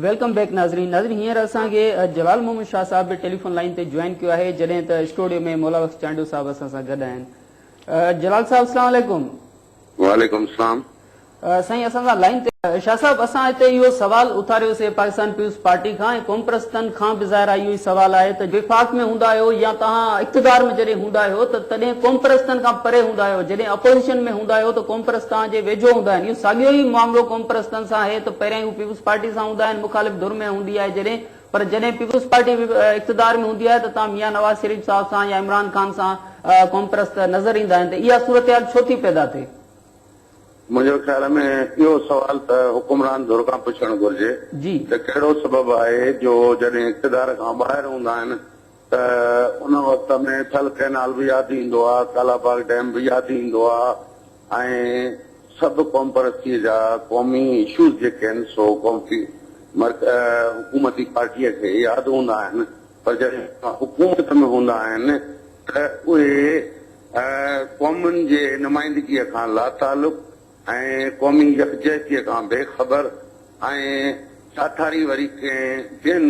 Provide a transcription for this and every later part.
Welcome back ناظرين ناظرين هينئر اسان کي جلال محمد شاهه صاحب به ٽيليفون لائن تي جوائن ڪيو آهي جڏهن ته اسٽوڊيو ۾ مولا بخش چانڊيو صاحب اسان سان گڏ آهن جلال صاحب السلام علیڪم وعليڪم السلام سائين اسان سان لائين تي. شاهه صاحب اسان هتي اهو سوال اٿاريو سي پاڪستان پيپلز پارٽي کان ۽ قومپرستن کان به ظاهر اهو ئي سوال آهي ته وفاق ۾ هوندا آهيو يا توهان اقتدار ۾ جڏهن هوندا آهيو ته تڏهن قومپرستن کان پري هوندا آهيو جڏهن اپوزيشن ۾ هوندا آهيو ته قومپرست توهان جي ويجهو هوندا آهن اهو ساڳيو ئي معاملو قومپرستن سان آهي ته پهريائين هو پيپلز پارٽي سان هوندا آهن مخالف ڌر ۾ هوندي آهي جڏهن پر جڏهن پيپلز پارٽي اقتدار ۾ هوندي آهي ته توهان ميان نواز شريف صاحب سان يا عمران خان سان قومپرست نظر ايندا آهن ته اها صورتحال ڇو ٿي پيدا ٿئي. منهنجو خيال ۾ اهو سوال ته حڪمران ڌر کان پڇڻ گهرجي ته ڪهڙو سبب آهي جو جڏهن اقتدار کان ٻاهر هوندا آهن ته ان وقت ۾ ٿل ڪئنال به ياد ايندو آهي، ڪالاباغ ڊيم به ياد ايندو آهي ۽ سڀ قومپرستيء جا قومي اشوز جيڪي آهن سو قومي حڪومتي پارٽيء کي ياد هوندا آهن پر جڏهن حڪومت ۾ هوندا آهن ته اهي قومن جي نمائندگيء کان لاتعلق ۽ قومي يڪجهتيء کان بي خبر ۽ ساٿاري وري ڪنهن ٻين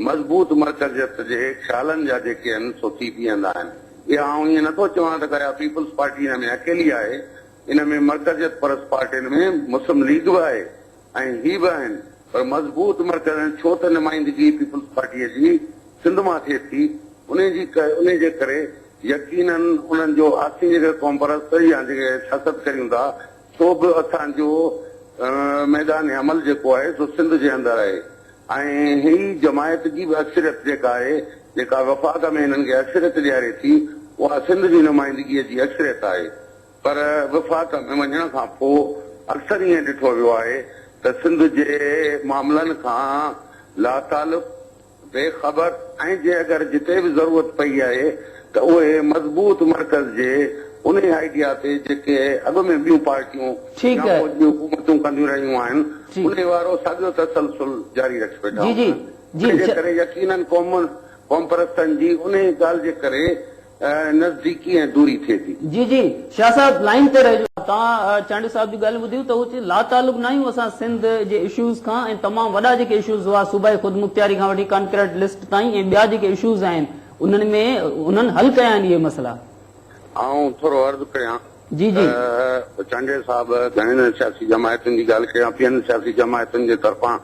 مضبوط مرڪزيت جي خيالن جا جيڪي آهن سو ٿي بيهندا آهن. اها آئون ائين نٿو چوان ته گايا پيپلز پارٽي ان ۾ اڪيلي آهي، ان ۾ مرڪزيت پرست پارٽين ۾ مسلم ليگ به آهي، ۽ هي به آهن پر مضبوط مرڪز ۽ ڇو ته نمائندگي پيپلز پارٽيء جي سنڌ مان ٿئي ٿي انهي جي انهي جي ڪري يقيناً انهن جو آسين جيڪي قومپرست يا جيڪي سياست ڪريون ٿا سو به اسان جو ميدان عمل جيڪو آهي سو سنڌ جي اندر آهي ۽ هي جماعت جي به اڪثريت جيڪا آهي جيڪا وفاق ۾ هنن کي اڪثريت ڏياري ٿي اها سنڌ جي نمائندگيء جي اڪثريت آهي. پر وفاق ۾ وڃڻ کان پوء اڪثر ائين ڏٺو ويو آهي ته سنڌ جي معاملن کان لاتعلق، بي خبر ۽ جي اگر جتي به ضرورت پئي آهي ته اهي مضبوط مرڪز جي انهي آئيڊيا تي جيڪي اڳ ۾ ٻيون پارٽيون يا فوج جون حڪومتون ڪنديون رهيون آهن انهي وارو ساڳيو تسلسل جاري رکي ويٺا هوندا. انهي جي ڪري يقينن قومپرستن جي انهي ڳالهه جي ڪري نزديڪي ۽ دوري ٿئي ٿي. جي جي شاھ صاحب لائين تي رھجو. توهان چانڊيو صاحب جون ڳالهيون ٻڌيون ته هو چي لا تعلق ناهيون اسان سنڌ جي اشوز کان ۽ تمام وڏا جيڪي اشوز هئا صوبائي خودمختياري کان وٺي ڪانڪريٽ لسٽ تائين ۽ ٻيا جيڪي اشوز آهن انهن ۾ انهن حل ڪيا آهن اهي مسئلا. آئون ٿورو عرض ڪريان جي جي. چانڊيو صاحب گهڻين سياسي جماعتن جي ڳالھ ڪيان پيهن سياسي جماعتن جي طرفان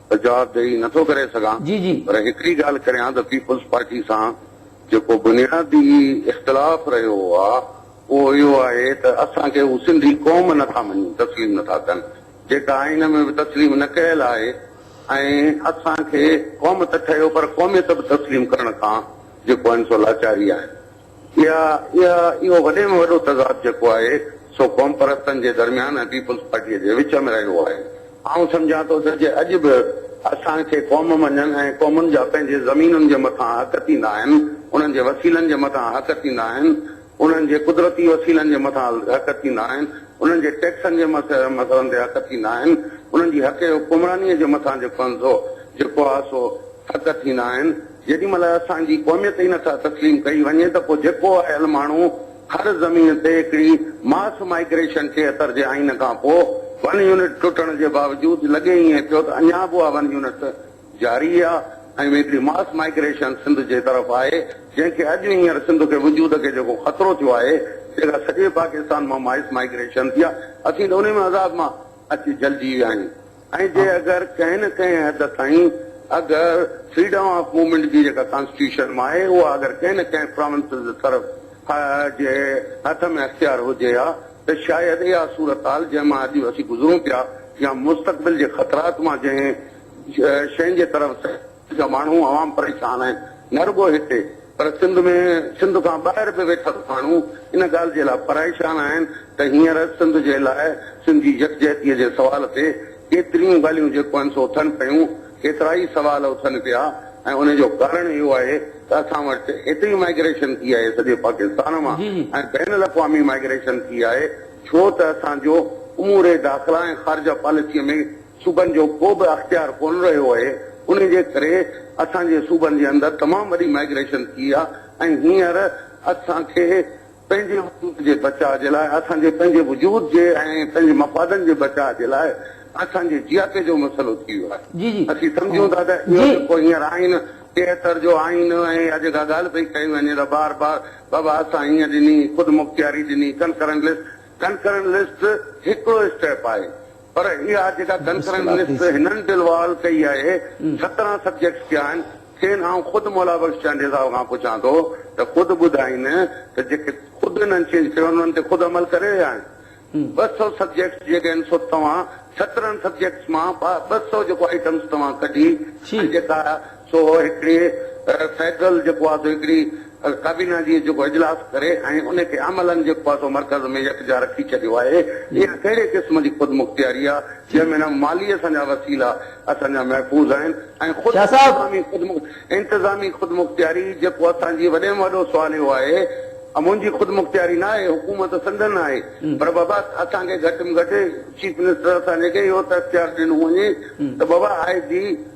ته جواب ڏئي نه ٿو ڪري سگهان جي جي. پر هڪڙي ڳالهه ڪريان ته پيپلز پارٽي سان جيڪو بنيادي اختلاف رهيو آ اهو اهو آهي ته اسان کي هو سنڌي قوم نه ٿا مڃين تسليم نه ٿا ڪن جيڪا آئين ۾ به تسليم نه ڪيل آهي ۽ اسان کي قوم ته ٺهيو پر قوميت به تسليم ڪرڻ کان جيڪو آهن سو لاچاري آهن. يا اها اهو وڏي ۾ وڏو تضاد جيڪو آهي سو قومپرستن جي درميان ۽ پيپلز پارٽيء جي وچ ۾ رهيو آهي. آئون سمجهان ٿو ته جي اڄ به اسان کي قوم مڃن ۽ قومن جا پنهنجي زمينن جي مٿان حق ٿيندا آهن، انهن جي وسيلن جي مٿان حق ٿيندا آهن، انهن جي قدرتي وسيلن جي مٿان حق ٿيندا آهن، انهن جي ٽيڪسن جي مسئلن تي حق ٿيندا آهن، انهن جي حقي حڪمرانيء جي مٿان جيڪو آهن سو جيڪو آهي سو حق ٿيندا آهن. جيڏي مھل اسان جي قوميت ئي نٿا تسليم ڪئي وڃي ته پوء جيڪو آيل ماڻھو ھر زمين تي ھڪڙي ماس مائگريشن ٿئي اتر جي آئين کان پوء ون يونٽ ٽٽڻ جي باوجود لڳي ائين ٿيو ته اڃا به اھا ون يونٽ جاري آ ۽ ھڪڙي ماس مائگريشن سنڌ جي طرف آھي جنھن کي اڄ ھينئر سنڌ کي وجود کي جيڪو خطرو ٿيو آھي جيڪا سڄي پاڪستان مان مائس مائگريشن ٿي آ اسين ته انھي ۾ عذاب مان اچي جھلجي ويا آھيون. ۽ جي اگر ڪنهن نه ڪنهن حد تائين اگر فريڊم آف موومينٽ جي جيڪا ڪانسٽيٽيوشن مان آهي اها اگر ڪنهن نه ڪنهن پراونسز طرف جي هٿ ۾ اختيار هجي ها ته شايد اها صورتحال جنهن مان اڄ اسين گذرون پيا يا مستقبل جي خطرات مان جنهن شين جي طرف جا ماڻهو عوام پريشان آهن نه رڳو هتي پر سنڌ ۾ سنڌ کان ٻاهر به ويٺل ماڻهو ان ڳالهه جي لاء پريشان آهن ته هينئر سنڌ جي لاء سنڌي يڪجهتي جي سوال تي ڪيتريون ڳالهيون جيڪو آهن سو اٿن پيون ڪيترائي سوال اٿن پيا ۽ ان جو ڪارڻ اهو آهي ته اسان وٽ ايتري مائگريشن ٿي آهي سڄي پاڪستان مان ۽ بين الاقوامي مائگريشن ٿي آهي ڇو ته اسان جو امور داخلا ۽ خارجه پاليسي ۾ صوبن جو ڪو به اختيار ڪونه رهيو اهي انهي جي ڪري اسان جي صوبن جي اندر تمام وڏي مائگريشن ٿي آ ۽ هينئر اسان کي پنهنجي وجود جي بچاء جي لاء اسان جي پنهنجي وجود جي ۽ پنهنجي مفادن جي بچاء جي لاء اسان جي جياپي جو مسئلو ٿي ويو آهي اسين سمجهون ٿا ته اهو جيڪو هينئر آئين ٽيهتر جو آئين ۽ اها جيڪا ڳالهه پئي ڪئي وڃي ته بار بار بابا اسان هيئن ڏني خودمختياري ڏني ڪنڪرنٽ لسٽ ڪنڪرنٽ لسٽ هڪڙو اسٽيپ آهي پر اها جيڪا ڪنڪرنٽ لسٽ هنن ڊلوال ڪئي آهي سترهن سبجيڪٽس ڪيا آهن کين آئون خود مولا بخش چانڊيو صاحب کان پڇان ٿو ته خود ٻڌائين ته جيڪي خود هنن چينج ڪيو انهن تي خود عمل ڪري رهيا آهن ٻه سؤ سبجيڪٽس جيڪي آهن سو توهان سترهن سبجيڪٽس مان ٻه سؤ جيڪو آئٽمس توهان ڪڍي ۽ جيڪا سو هڪڙي فيڊرل جيڪو آهي سو هڪڙي ڪابينا جي جيڪو اجلاس ڪري ۽ ان کي عملا جيڪو آهي سو مرڪز ۾ يڪجا رکي ڇڏيو آهي. اها ڪهڙي قسم جي خودمختياري آهي جنهن ۾ نه مالي اسان جا وسيلا اسان جا محفوظ آهن ۽ خود انتظامي خودمختياري انتظامي خودمختياري جيڪو اسان جي وڏي ۾ وڏو سوال اهو آهي منهنجي خودمختياري نه آهي حڪومت سندن آهي پر بابا اسان کي گهٽ ۾ گهٽ چيف منسٽر اسان جي کي اهو ته اختيار ڏنو وڃي ته بابا آء جي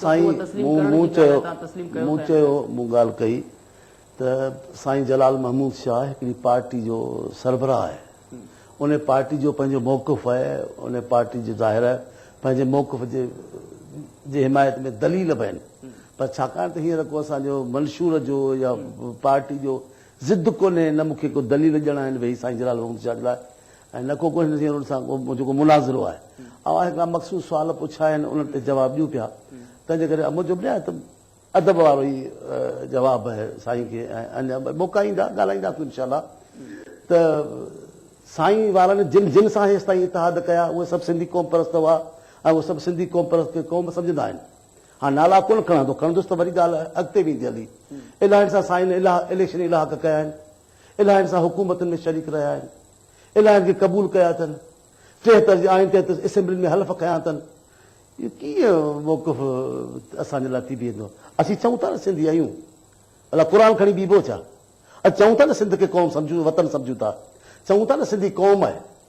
سائين مون مون چيو مون چيو مون ڳالهه ڪئي ته سائين جلال محمود شاهه هڪڙي پارٽي جو سربراهه آهي ان پارٽي جو پنهنجو موقف آهي ان پارٽي جو ظاهر آهي پنهنجي موقف جي جي حمايت ۾ دليل به آهن پر ڇاڪاڻ ته هينئر ڪو اسان جو منشور جو يا پارٽي جو ضد ڪونهي نه مون کي ڪو دليل ڄڻا آهن ويهي سائين جلال محمود شاهه جي لاء ۽ نه ڪو ڪو هن سان منهنجو ڪو مناظرو آهي. اوهان هڪڙا مخصوص سوال پڇيا آهن، انهن تي جواب ڏيون پيا، تنهن جي ڪري منهنجو به نهايت ادب وارو ئي جواب آهي سائين کي ۽ اڃا به موقعا ايندا ڳالهائينداسون انشاء الله ته سائين وارن جن جن سان هيستائين اتحاد ڪيا اهي سڀ سنڌي قومپرست هئا ۽ اهي سڀ سنڌي قومپرست کي قوم سمجهندا آهن. هاڻ نالا ڪونه کڻندو، کڻندس ته وري ڳالهه اڳتي ويندي هلي. الاهين سان سائين الاهه اليڪشن الاهه ڪيا آهن. الائين سان حڪومتن ۾ شريڪ رهيا آهن، الائين کي قبول ڪيا اٿن، ٽيهتر جي آئين تحت اسيمبلين ۾ حلف کنيا اٿن، اهو ڪيئن موقف اسان جي لاء ٿي بيهندو؟ اسين چئون ٿا نه سنڌي آهيون، الا قرآن کڻي بيهبو ڇا؟ اسين چئون ٿا نه سنڌ کي قوم سمجهون، وطن سمجهون ٿا، چئون ٿا نه سنڌي قوم آهي.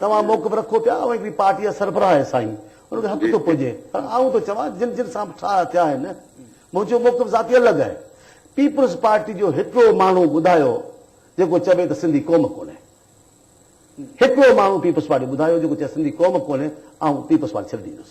توهان موقف رکو پيا اوهين هڪڙي پارٽي جا سربراهه آهيو سائين ان کي حق ٿو پڄي پر آئون ٿو چوان جن جن سان ٺاهه ٿيا آهن منهنجو موقف ذاتي الڳ آهي پيپلز پارٽي جو هڪڙو ماڻهو ٻڌايو جيڪو چوي ته سنڌي قوم ڪونهي هڪڙو ماڻهو پيپلز پارٽي ٻڌايو جيڪو چوي سنڌي قوم ڪونهي آئون پيپلز پارٽي ڇڏي ڏيندس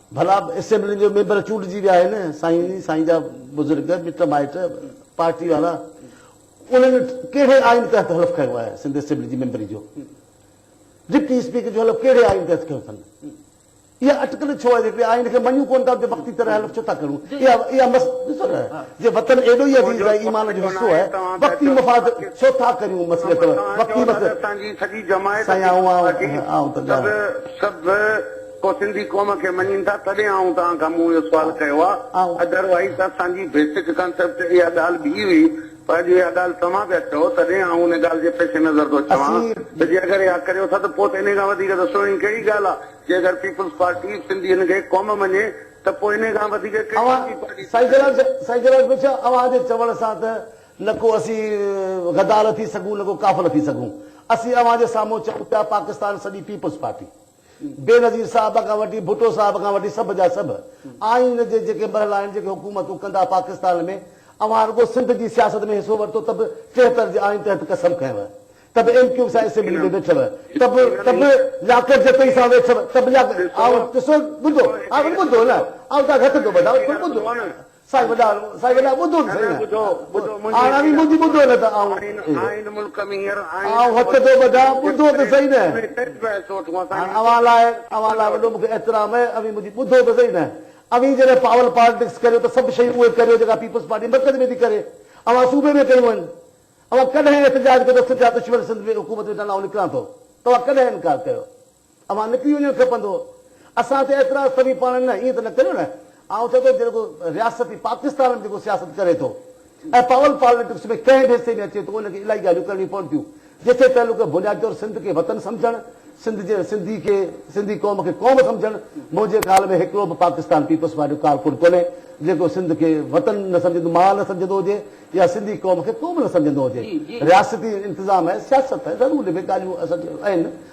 ڀلا اسيمبلين جو ميمبر چونڊجي ويا آهن سائين سائين جا بزرگ مٽ مائٽ پارٽي وارا انهن ڪهڙي آئين تحت حلف کنيو آهي سنڌ اسيمبلي جي ميمبري جو ڊپٽي اسپيڪر جو حلف ڪهڙي آئين تحت کنيو اٿن اها اٽڪل ڇو آهي جيڪي آئين کي مڃون ڪون ٿا وقتي طرح حلف ڇو ٿا ڪرون اها اها مس ڏسو نه جي وطن ايڏو ئي عزيز آهي ايمان جو حصو آهي وقتي مفاد ڇو ٿا ڪريون مسئلي ته وقتي مسئلي سائين آئون آئون ته سڀ ڪو سنڌي قوم کي مڃين ٿا تڏهن آئون توهان کان مون اهو سوال ڪيو آ اڌر وائيز ته اسان جي بيسڪ ڪانسيپٽ اها ڳالهه به هئي پر اڄ اها ڳالهه توهان پيا چئو تڏهن آئون ان ڳالهه جي پيش نظر ٿو چوان ته جي اگر اها ڪريو ٿا ته پوء ته انهي کان وڌيڪ ته سهڻي ڪهڙي ڳالهه آ جي اگر پيپلز پارٽي سنڌين کي قوم مڃي ته پوء انهي کان وڌيڪ ڪهڙي ٻي پارٽي ٿي سگهي. سائين جلاوطن شاهه اوهان جي چوڻ سان ته نه ڪو اسين غدار ٿي سگهون نه ڪو ڪافر ٿي سگهون اسين اوهان جي سامهون چئون پيا پاڪستان سڄي پيپلز پارٽي. بينظير صاحب کان وٺي ڀٽو صاحب کان وٺي سڀ جا سڀ آئين جي جيڪي مرحلا آهن جيڪي حڪومتون ڪندا پاڪستان ۾ اوهان رڳو سنڌ جي سياست ۾ حصو ورتو ته به ٽيهتر جي آئين تحت قسم کنيو ته به ايم ڪيو سان اسيمبلي ۾ ويٺو ته به ته به لياقت جتوئي سان ويٺو ته به لياقت آئون ڏسو ٻڌو آئون ٻڌو نه آئون تان کي هٿ ٿو ٻڌان ٻڌو سائين وڏا سائين وڏا ٻڌو نه سائين ٻڌو ٻڌو منهنجي اوهين منهنجي ٻڌو نه ته آئون آئين ملڪ ۾ هينئر آئين آئون هٿ ٿو ٻڌان ٻڌو ته سهي نه هاڻ اوهان لاء اوهان لاء وڏو مونکي احترام آهي اوهين منهنجي ٻڌو ته سهي نه اوهين جڏهن پاول پالٽڪس ڪريو ته سڀ شيون اهي ڪريو جيڪا پيپلز پارٽي مرڪز ۾ ٿي ڪري اوهان صوبي ۾ ڪيون آهن اوهان ڪڏهن احتجاج ڪيو ته سنڌ جا دشمن سنڌ ۾ حڪومت ويٺا آهن آئون نڪران ٿو توهان ڪڏهن انڪار ڪيو اوهان نڪري وڃڻ کپندو. اسان تي اعتراض توهين پاڻ نه ائين ته نه ڪريو نه. آئون چئون ٿو جيڪو رياست پاڪستان ۾ جيڪو سياست ڪري ٿو ۽ پاول پاليٽڪس ۾ ڪنهن به حصي ۾ اچي ٿو ان کي الاهي ڳالهيون ڪرڻيون پون ٿيون جيسين تعلق بنيادي طور سنڌ کي وطن سمجهڻ سنڌ جي سنڌي کي سنڌي قوم کي قوم سمجهڻ منهنجي خيال ۾ هڪڙو به پاڪستان پيپلز پارٽي جو ڪارڪن ڪونهي جيڪو سنڌ کي وطن نه سمجهندو ماء نه سمجهندو هجي يا سنڌي قوم کي قوم نه سمجهندو هجي رياستي انتظام ۽ سياست ضرور ان ۾ ڳالهيون اصل ۾ آهن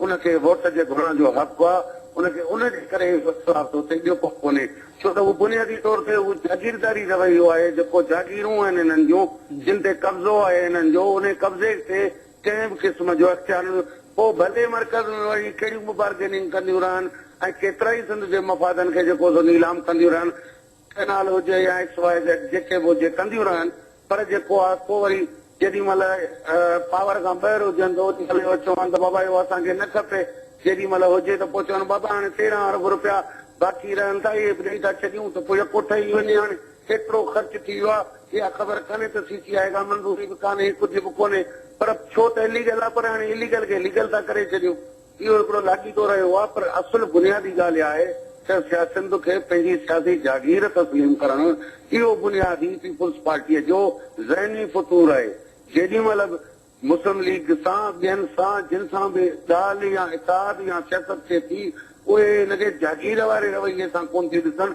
ان کي ووٽ جي گهرڻ جو حق آ، ان کي ان جي ڪري ئي اختلاف ٿو ٿئي، ٻيو ڪو ڪونهي. ڇو ته اهو بنيادي طور تي اهو جاگيرداري رويو آهي، جيڪو جاگيرون آهن هنن جون، جن تي قبضو آهي هنن جو، انهي قبضي تي ڪنهن به قسم جو اختيار نه پوء ڀلي مرڪز ۾ وڃي ڪهڙيون به بارگيننگ ڪنديون رهن ۽ ڪيترائي سنڌ جي مفادن کي جيڪو سو نيلام ڪنديون رهن، ڪئنال هجي يا ايڪس واء زيڊ جيڪي به هجي ڪنديون رهن پر جيڪو آ ڪو وري جيڏي مهل پاور کان ٻهر هجن ته اوڏي مهل اهو چون ته بابا اهو اسان کي نه کپي جيڏي مهل هجي ته پوء چون بابا هاڻي تيرهن ارب رپيا باقي رهن ٿا اهي به ڏئي ٿا ڇڏيون ته پوء يڪو ٺهي وڃي هاڻي ڪيترو خرچ ٿي ويو آ اها خبر ڪانهي ته سي سي آء کان منظوري به ڪانهي ڪجهه به ڪونهي پر ڇو ته اليگل آ پر هاڻي اليگل کي ليگل ٿا ڪري ڇڏيون اهو هڪڙو لاڳيتو رهيو آهي پر اصل بنيادي ڳالهه اها آهي ته سياسيند کي پنهنجي سياسي جاگير تسليم ڪرڻ اهو بنياد ئي پيپلز پارٽيء جو ذهني فطور آهي. جيڏي مهل به مسلم ليگ سان ٻين سان جن سان به ڳالهه يا اتحاد يا سياست ٿئي ٿي اهي هن کي جاگير واري رويي سان ڪونه ٿي ڏسن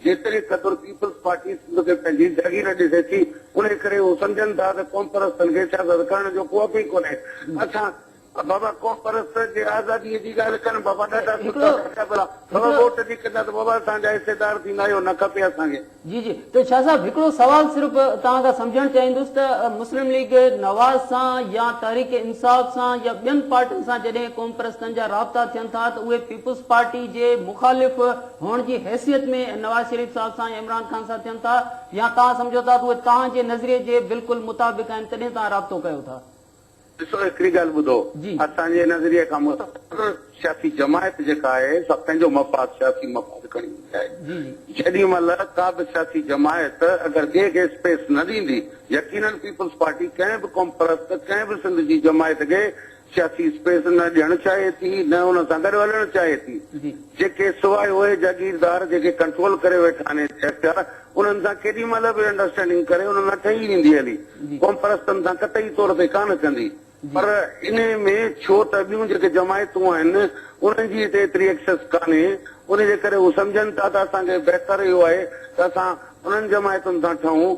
جيتري قدر پيپلز پارٽي سنڌ کي پنهنجي جاگير ڏسي ٿي، انهي ڪري هو سمجهن ٿا ته قومپرستن کي سياست ڪرڻ جو ڪو حق ئي ڪونهي. اسان. بابا قومپرست جي آزاديء جي ڳالهه ڪن بابا ڏاڍا سٺا ڏاڍا ڀلا. بابا ووٽ جي ڪندا ته بابا اسان جا حصيدار ٿيندا اهو نه کپي اسان کي. جي جي ته شاهه صاحب هڪڙو سوال صرف توهان کان سمجهڻ چاهيندس ته مسلم ليگ نواز سان يا تحريڪ انصاف سان يا ٻين پارٽين سان جڏهن قومپرستن جا رابطا ٿين ٿا ته اهي پيپلز پارٽي جي مخالف هئڻ جي حيثيت ۾ نواز شريف صاحب سان يا عمران خان سان ٿين ٿا يا توهان سمجهو ٿا ته اهي توهان جي نظريي جي بلڪل مطابق آهن تڏهن توهان رابطو ڪيو ٿا. ڏسو هڪڙي ڳالهه ٻڌو جي. اسان جي نظريي کان متاثر سياسي جماعت جيڪا آهي سا پنهنجو مفاد سياسي مفاد کڻي ايندي آهي. جي جي. جيڏي مهل ڪا به سياسي جماعت اگر ٻئي کي اسپيس نه ڏيندي يقينن پيپلز پارٽي ڪنهن به قوم پرست ڪنهن به سنڌ جي جماعت کي سياسي اسپيس نه ڏيڻ چاهي ٿي نه ان سان گڏ هلڻ چاهي ٿي. جيڪي سواء اهي جاگيردار جيڪي ڪنٽرول ڪري ويٺا آهن ايتري اختيار انهن سان ڪيڏي مهل به انڊرسٽينڊنگ ڪري انهن سان ٺهي ويندي هلي قومپرستن سان قطعي طور تي ڪانه ڪندي پر انهي ۾ ڇو ته ٻيون جيڪي جماعتون آهن انهن جي هتي ايتري ايڪسس ڪانهي انهي جي ڪري هو سمجهن ٿا ته اسان کي بهتر اهو آهي ته اسان انهن جماعتن سان ٺهون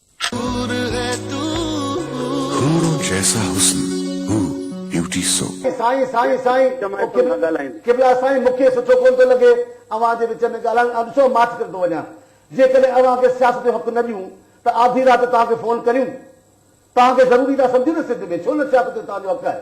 حور هي تون. حورون جيسا حسن هو بيوٽي سو. سائين سائين سائين قبلا سائين مونکي سٺو ڪون ٿو لڳي اوهان جي وچ ۾ ڳالهائڻ آء ڏسو ماٺ ڪري ٿو وڃان جيڪڏهن اوهان کي سياست جو حق نه ڏيون ته آڌي رات توهان کي فون ڪريون توهان کي ضروري ٿا سمجهون نه سنڌ ۾ ڇو نه سياست جو توهان جو حق آهي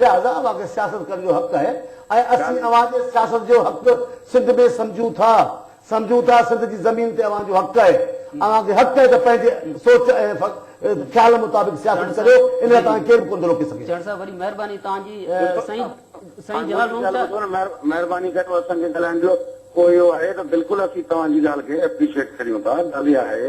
لهٰذا اوهان کي سياست ڪرڻ جو حق آهي ۽ اسين اوهان جي سياست جو حق سنڌ ۾ سمجهون ٿا سمجهون ٿا سنڌ جي زمين تي اوهان جو حق آهي اوهان کي حق آهي ته پنهنجي سوچ ۽ خيال مطابق سياست ڪريو ان لاء توهان کي ڪير به ڪونه ٿو روڪي سگهي. چهڙ صاحب وڏي مهرباني توهان جي سائين سائين جلال روم ته مهرباني ڪري اسان کي ڳالهائڻ جو ڪو اهو آهي ته بلڪل اسين توهان جي ڳالهه کي اپريشيٽ ڪريون ٿا ڳالهه اها آهي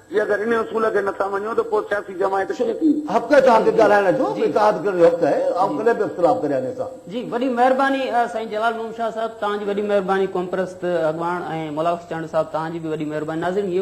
جي اگر ان اصول کي نٿا مڃو ته پوء سياسي جماعت ڪيئن ٿي؟ حق آهي توهان کي ڳالهائڻ جو اتحاد ڪرڻ جو حق آهي آئون ڪڏهن به اختلاف ڪريان ني سان. جي وڏي مهرباني سائين جلال محمد شاهه صاحب توهان جي وڏي مهرباني قومپرست اڳواڻ ۽ ملاوخش چانڊيو صاحب توهان جي به وڏي مهرباني ناظرين هيء هئي